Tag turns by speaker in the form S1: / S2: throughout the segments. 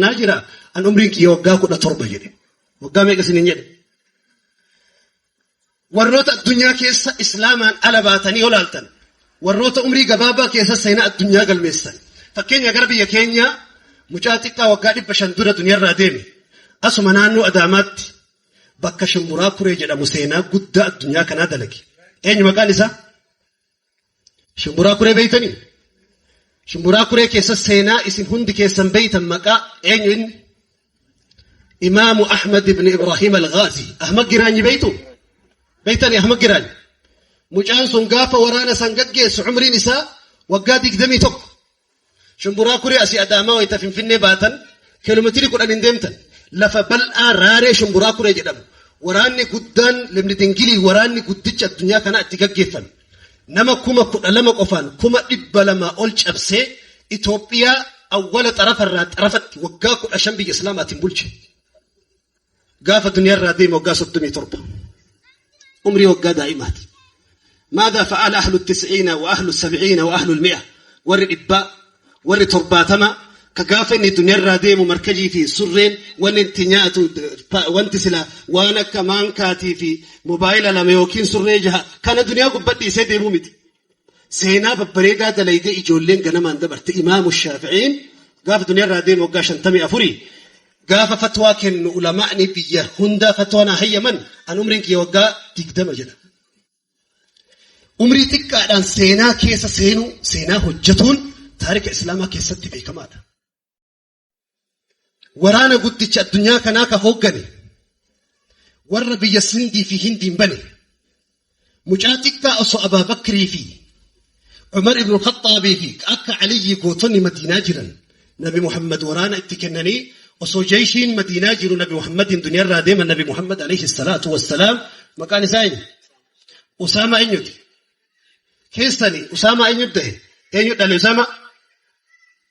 S1: Naa jira an umriin kiyya waggaa kudha torba jedhe. Waggaa meeqa isiniin jedhe? Warroota addunyaa keessa islaamaan ala baatanii yoo laaltan warroota umrii gabaabaa keessa seenaa addunyaa galmeessan. Fakkeenya gara biyya keenyaa mucaa xiqqaa waggaa dhibba shan dura duniyarraa deeme asuma naannoo Adaamaatti bakka Shimburaa Kuree jedhamu seenaa guddaa addunyaa kanaa dalage. Eenyu maqaan isaa? Shimburaa kuree beeytanii? Shimburaa kuree keessa seenaa isin hundi keessan beeytan maqaa eenyu inni? Imaamu Ahmad ibn Ibrahim al-Ghazi. Ahmad Giraanyi beeytu? Beeytanii Ahmad Giraanyi? Mucaan sun gaafa waraana san gaggeessu umriin isaa waggaa digdamii tokko. Shumburaa Kuree asii Adaamaa wayita Finfinnee baatan kiiloomeetirii kudhan hin deemtan. Lafa bal'aa raaree Shumburaa Kuree jedhamu. Waraanni guddaan Lemni Dingilii waraanni guddicha addunyaa kanaa itti gaggeeffame. Nama kuma kudha lama qofaan kuma dhibba lamaa ol cabsee Itoophiyaa awwala xarafarraa xarafatti waggaa kudha shan biyya Islaamaatiin bulche. gaafa duniyaa irraa deema waggaa soddomii torba umrii waggaa daa'imaati maada fa'aala ahlu tis'iina wa ahlu sab'iina wa ahlu mi'a warri dhibbaa warri torbaatama ka gaafa inni duniyaa irraa deemu markajii fi surreen wanni itti nyaatu wanti sila waan akka maankaatii fi mobaayila lama yookiin surree jaha kana duniyaa gubbadhiisee deemuu miti Seenaa babbareedaa dalaydee ijoolleen ganamaan dabarte imaamu shaafi'iin gaafa duniyaarraa deemu waggaa shantamii afurii gaafa fatwaa kennu ulamaa'ni biyya hundaa fatwaa naa hayyaman an umriin kiyya waggaa digdama jedha. Umrii xiqqaadhaan seenaa keessa seenuu seenaa hojjetuun taarika islaamaa keessatti beekamaadha. waraana guddicha addunyaa kanaa ka hooggane warra biyya sindii fi hindiin bane mucaa xiqqaa osoo abaa bakrii fi umar ibnu khaxaabii fi akka aliyyi gootonni madiinaa jiran nabi muhammad waraana itti kennanii osoo jeeshiin madiinaa jiru nabi muhammadiin duniyaarraa deema nabi muhammad alayhi salaatu wassalaam maqaan isaa eenyu usaamaa eenyuti keessani usaamaa eenyu dahe eenyu dhale usaamaa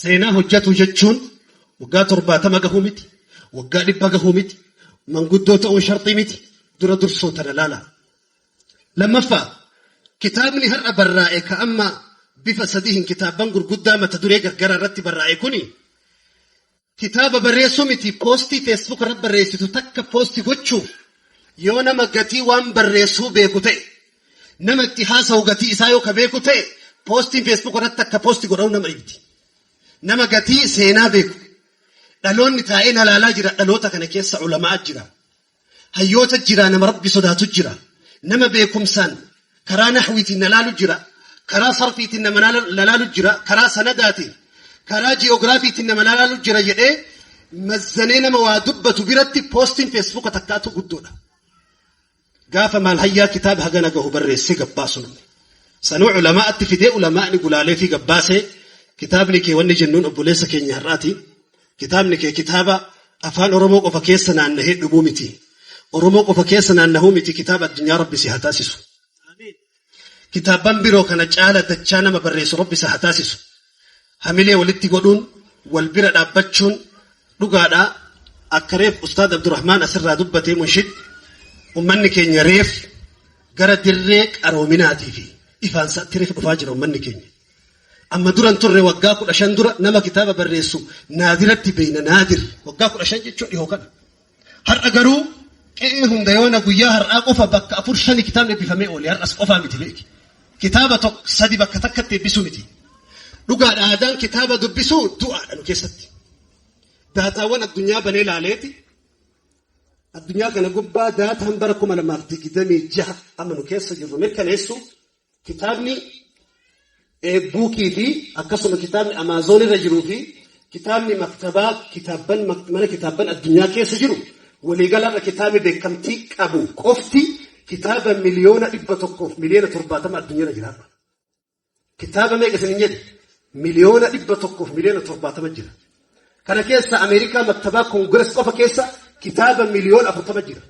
S1: Seenaa hojjetu jechuun waggaa torbaatama gahuu miti, waggaa dhibba gahuu miti, manguddoo ta'uun sharxii miti, dura dursoo tana laala. Lammaffaa, kitaabni har'a barraa'e ka amma bifa sadihin kitaabban gurguddaa mata duree gargaraa irratti barraa'e kuni Kitaaba barreessuu miti poostii feesbuuk irratti barreessitu takka poosti gochuuf yoo nama gatii waan barreessuu beeku ta'e nama itti haasa'u gatii isaa yoo ka beeku ta'e poostiin feesbuuk irratti akka poosti godhamu nama ibdi. Nama gatii seenaa beeku dhaloonni taa'ee nalaalaa jira dhaloota kana keessa ulamaa jira. Hayyoota jira nama rabbi sodaatu jira nama beekumsaan karaa nahwiitiin na laalu jira karaa sarfiitiin nama na laalu jira karaa sanadaatiin karaa ji'oogiraafiitiin nama na laalu jira jedhee mazzanee nama waa dubbatu biratti poostiin feesbuuka takkaatu guddoodha. Gaafa maal hayyaa kitaaba hagana gahu barreessee gabbaasu namni. Sanuu ulamaa'atti fidee ulamaa'ni gulaalee fi gabbaasee kitaabni kee wanni jennuun obboleessa keenya har'aati. Kitaabni kee kitaaba afaan Oromoo qofa keessa naannahee dhumuu miti. Oromoo qofa keessa naannahuu miti kitaaba addunyaa rabbi si haa taasisu. Kitaabban biroo kana caala dachaa nama barreessu rabbi si haa taasisu. Hamilee walitti godhuun wal bira dhaabbachuun dhugaadhaa akka reef Ustaad Abdurrahmaan asirraa dubbatee munshid ummanni keenya reef gara dirree qaroominaatii fi ifaan isaatti reef dhufaa jira ummanni keenya. Amma duran turre waggaa kudha shan dura nama kitaaba barreessu naadiratti beeyna naadir waggaa kudha shan jechuun dhihoo kana. Har'a garuu qe'ee hunda yoona guyyaa har'aa qofa bakka afur shani kitaabni eebbifamee oole har'as qofaa miti beeki. Kitaaba tokko sadi bakka takkatti eebbisuu miti. Dhugaadha aadaan kitaaba dubbisuu du'aadha nu keessatti. Daataawwan addunyaa banee laaleeti. Addunyaa kana gubbaa daataan bara kuma lamaaf digdamii jaha amma nu keessa jirru mirkaneessu Kitaabni eebbuukii fi akkasuma kitaabni Amaazoon irra jiruu fi kitaabni maktabaa kitaabban mana kitaabban addunyaa keessa jiru waliigalarra kitaabni beekamtii qabu qofti kitaaba miliyoona dhibba tokkoof miliyoona torbaatama addunyaarra jira. Kitaaba meeqa isin hin jedhe miliyoona dhibba tokkoof miliyoona torbaatama jira. Kana keessa Ameerikaa maktabaa koongirees qofa keessa kitaaba miliyoona afurtama jira.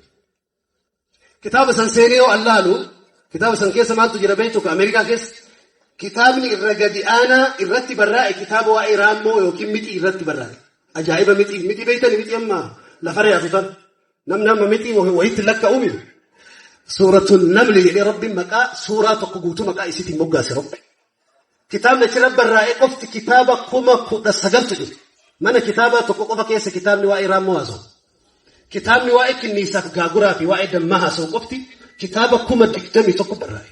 S1: Kitaaba san seenee yoo allaalu kitaaba san keessa maaltu jira beektu ka Ameerikaa keessa kitaabni irra gadi aanaa irratti barraa'e kitaaba waa'ee raammoo yookiin mixii irratti barraa'e. Ajaa'iba mixii mixii beektani mixii amma lafarra yaatu tan namni amma mixii wayitti lakka'uumi. Suuratun namli jedhee rabbiin maqaa suuraa tokko guutuu maqaa isiitiin moggaase rabbi. Kitaabni achirra barraa'e qofti kitaaba kuma kudha sagaltu jiru. Mana kitaabaa tokko qofa keessa kitaabni waa'ee raammoo haasa'u. Kitaabni waa'ee kinniisaaf gaaguraa fi waa'ee dammaa haasa'u qofti kitaaba kuma digdamii tokko barraa'e.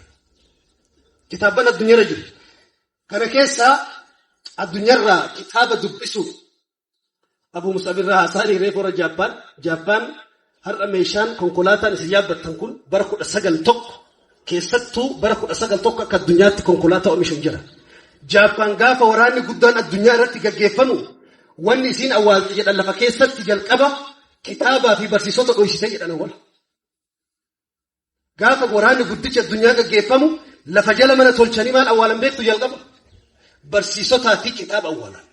S1: Kitaabban addunyaarra jiru. Kana keessaa addunyaarraa kitaaba dubbisuuf Abu Mus'ab irraa haasaan hiree kora Jaappaan, Jaappaan har'a meeshaan konkolaataan isin yaabbattan kun bara kudha sagal tokko keessattuu bara kudha sagal tokko akka addunyaatti konkolaataa oomishuun jira. Jaappaan gaafa waraanni guddaan addunyaa irratti gaggeeffamu wanni isiin awwaalte jedhan lafa keessatti jalqaba kitaabaa fi barsiisota dhoysite jedhan awwala. Gaafa waraanni guddichi addunyaa gaggeeffamu lafa jala mana tolchanii maal awwaalan beektu jalqaba? Barsiisotaa fi kitaaba awwaalan.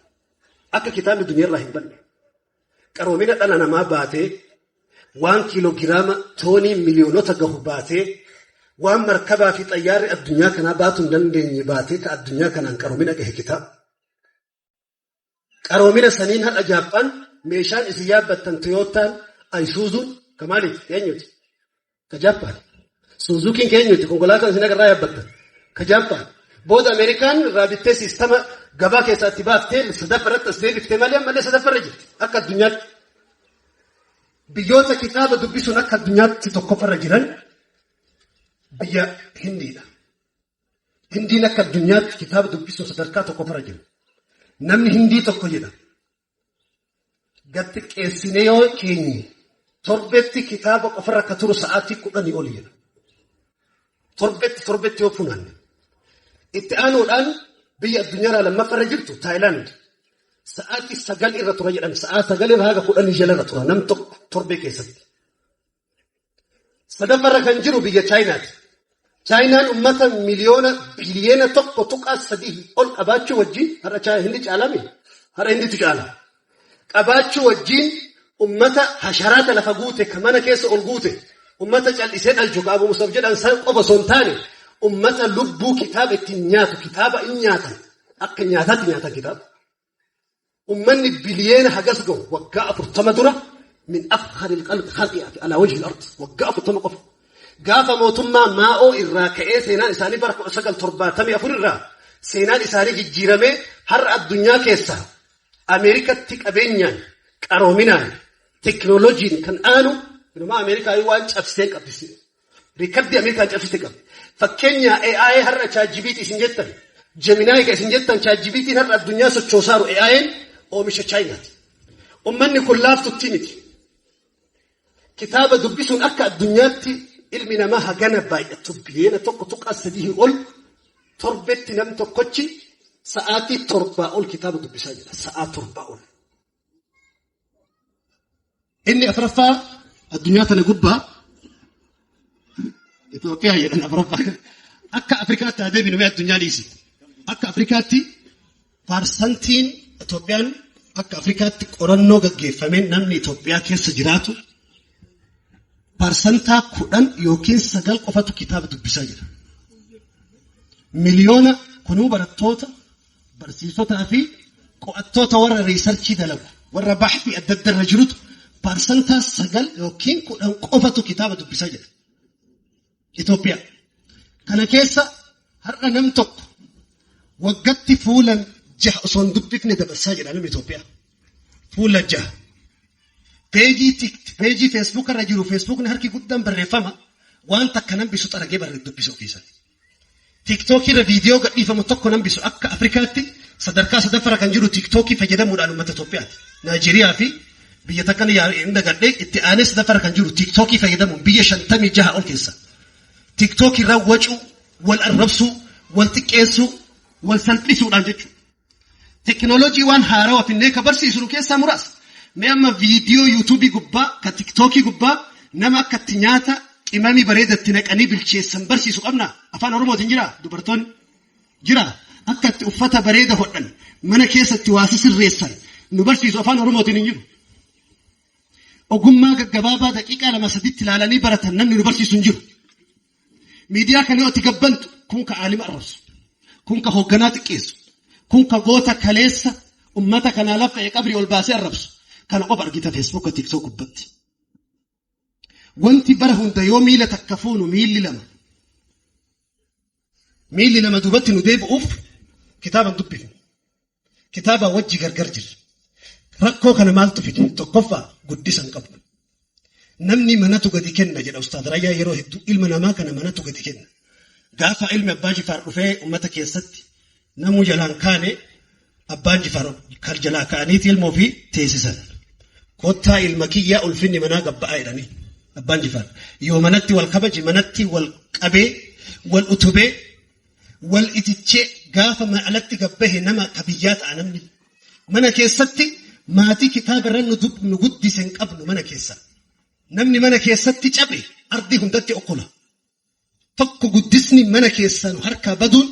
S1: Akka kitaabni duniyaarraa hin banne. Qaroomina dhala namaa baatee waan kiilogiraama toonii miliyoonota gahu baatee waan markabaa fi xayyaarri addunyaa kanaa baatu hin dandeenye baatee ka addunyaa kanaan qaroomina gahe kitaaba. Qaroomina saniin har'a Jaappaan meeshaan isin yaabbattan Toyootaan Ayisuuzuun ka maaliiti? Keenyuti. Ka Jaappaan. Suuzukiin keenyuti. Konkolaataan isin agarraa yaabbattan. Ka Jaappaan. Booda Ameerikaan irraa bittee siistama gabaa keessaa itti baaftee sadaffaa irratti as deebifte malee ammallee sadaffaa irra jirti. Akka addunyaatti. Biyyoota kitaaba dubbisuun akka addunyaatti tokkoffaa irra jiran biyya Hindiidha. Hindiin akka addunyaatti kitaaba dubbisuun sadarkaa tokkoffaarra jiru. Namni Hindii tokko jedha. Gad xiqqeessinee yoo keenye torbetti kitaaba qofarra akka turu sa'aatii kudhanii oli jedha. Torbetti torbetti yoo funaanne. Itti aanuudhaan biyya addunyaarraa lammaffaarra jirtu Taayilaand sa'aatii sagal irra tura jedhan sa'aa sagal irra haga kudhanii jalarra tura nam tokko torbee keessatti. Sadaffarra kan jiru biyya Chaayinaati. Chaayinaan ummata miliyoona biliyeena tokko tuqaa sadii ol qabaachuu wajjin har'a Chaayina hindi caalame har'a hinditu caala. Qabaachuu wajjin ummata hasharaata lafa guute ka mana keessa ol guute ummata cal'isee dhalchu ka Abu Musab jedhan san qofa osoo hin taane ummata lubbuu kitaaba ittiin nyaatu kitaaba in nyaatan akka nyaataatti nyaatan kitaaba. ummanni biliyeena hagas gahu waggaa afurtama dura min afkhari lqalqi khalqiyaati alaa wajhi lardi waggaa afurtama qofa gaafa mootummaa maa'oo irraa ka'ee seenaan isaanii bara 1974 irraa seenaan isaanii jijjiiramee har'a addunyaa keessa Ameerikatti qabeenyaan qaroominaan teknooloojiin kan aanu inumaa Ameerikaa waan cabsitee qabdisiidha. Riikardii Ameerikaan cabsite qabe. Fakkeenyaa AI har'a ChatGPT isin jettan, Gemini ka isin jettan ChatGPT'n har'a addunyaa sochoosaaru AI'n oomisha Chaayinaati. Ummanni kun laaftuttii miti. Kitaaba dubbisuun akka addunyaatti ilmi namaa hagana baay'atu biliyoona 1.3 ol torbetti nam tokkochi sa'aatii torbaa ol kitaaba dubbisaa jira. Sa'aa torbaa ol. Inni afraffaa addunyaa tana gubbaa Itoophiyaa jedhan afraffaa akka Afrikaatti haa deebinu mee addunyaa dhiisi. Akka Afrikaatti parsantiin Itoophiyaan akka Afrikaatti qorannoo gaggeeffameen namni Itoophiyaa keessa jiraatu parsantaa kudhan yookiin sagal qofatu kitaaba dubbisaa jira. Miliyoona kunuu barattoota Barsiisotaa fi qo'attoota warra riisarchii dalagu warra bahtii adda adda irra jirutu parsantaa sagal yookiin kudhan qofatu kitaaba dubbisaa jira. Itoophiyaa. Kana keessa har'a nam tokko waggatti fuula jaha osoo hin dubbifne dabarsaa jira namni Itoophiyaa. Fuula jaha. Peejii tikti, peejii feesbuuka irra jiru feesbuukni harki guddaan barreeffama waan takka nambisu xaragee barreef dubbisa ofiisaa. Tiiktookii irra viidiyoo gadhiifamu tokko nambisu akka Afrikaatti sadarkaa sadaffara kan jiru tiiktookii fayyadamuudhaan uummata Itoophiyaati. Naajeeriyaa fi biyya takka ni yaa- hin dagadhe itti aanee sadaffara kan jiru tiiktookii fayyadamuun biyya 56 ol keessa. Tiiktookii irraa wacuu, wal arrabsuu, wal xiqqeessuu, wal salphisuudhaan jechuudha. Teknolojii waan haarawa finnee ka barsiisnu keessaa muraasa. Mee amma viidiyoo yuutuubii gubbaa ka tiktookii gubbaa nama akka itti nyaata qimamii bareeda itti naqanii bilcheessan barsiisu qabnaa? Afaan Oromootiin jiraa? Dubartoonni jiraa? Akka itti uffata bareeda hodhan mana keessatti waa sisirreessan nu barsiisu afaan Oromootiin hin jiru. Ogummaa gaggabaabaa daqiiqaa lama sadiitti ilaalanii baratan namni nu barsiisu hin jiru. Miidiyaa kana yoo itti gabbantu kun ka aalima arrabsu, kun ka hoogganaa xiqqeessu, kun ka goota kaleessa ummata kanaa laffa'e qabrii ol baasee arrabsu kana qofa argita Facebook TikTok gubbatti. Wanti bara hunda yoo miila takka fuunu miilli lama. Miilli lama duubatti nu deebi'uuf kitaaba dubbifna. Kitaabaa wajji gargar jirra. Rakkoo kana maaltu fide? Tokkoffaa guddisa hin qabnu. Namni manatu gadi kenna jedha Ustaad Rayyaa yeroo hedduu ilma namaa kana manatu gadi kenna. Gaafa ilmi Abbaa Jifaar dhufee uummata keessatti namuu jalaan kaane Abbaan Jifaar kan jalaa ka'aniiti ilma ofii teessisan. Kottaa ilma kiyyaa ulfinni manaa gabba'aa jedhanii Abbaan Jifaar. Yoo manatti wal kabaje manatti wal qabee wal utubee Wal itichee gaafa mana alatti gabbahe nama ka biyyaa ta'a namni. Mana keessatti maatii kitaaba irra nu dub- nu guddise hin qabnu mana keessa. Namni mana keessatti cabe ardii hundatti okkola. Tokko guddisni mana keessa nu harkaa baduun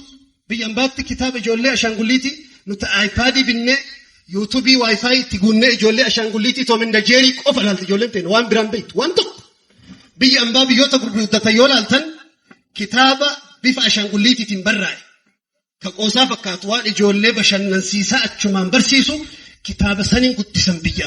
S1: biyya ambaatti kitaaba ijoollee ashaangulliitii nuti aayipaadii binnee yuutuubii waayifaayi itti guunnee ijoollee ashaangulliitii toominda jeerii qofa ilaalti ijoolleen ta'in waan biraan beektu waan tokko. Biyya ambaa biyyoota gurguddatan yoo ilaaltan Kitaaba bifa ashaangulliitiitiin barraa'e ka qoosaa fakkaatu waan ijoollee bashannansiisaa achumaan barsiisu kitaaba saniin guddisan biyya